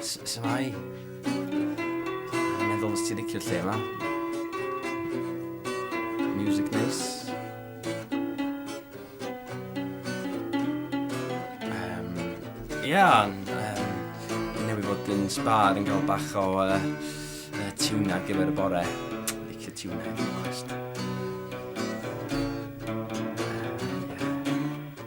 Shwmae. Meddwl os ti'n licio'r lle yma. Music nice. Um, Ia, um, newydd fod yn sbar yn cael bach o uh, uh, tiwna gyfer y bore. Licio tiwna, yn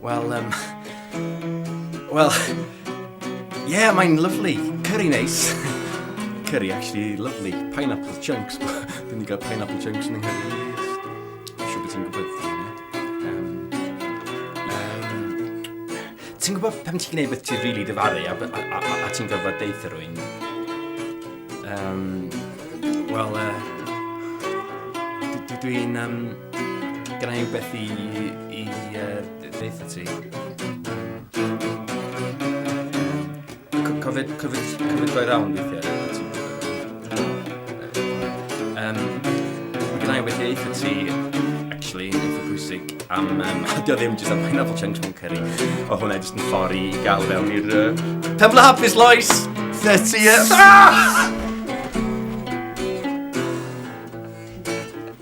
Wel, um, wel, yeah, mae'n lyflu. Curry neis. Curry, actually, lyflu. Pineapple chunks. Dwi'n gael pineapple chunks yn yng ti'n gwybod pan ti'n gwneud beth ti'n rili really dyfaru a, a, a, a, a ti'n gorfod deith ar rwy'n? Um, Wel, uh, dwi'n... Um, gyda i beth i I ddeitha ti. Cofyd, cofyd, cofyd roi rawn weithiau. Um, mae gen i wedi eitha ti, actually, yn eitha pwysig am... Um, Dio ddim jyst am pineapple chunks mewn curry. O hwnna jyst yn ffordd i gael fewn i'r... Uh, Temple Hapus, Lois! Dyna ti, e.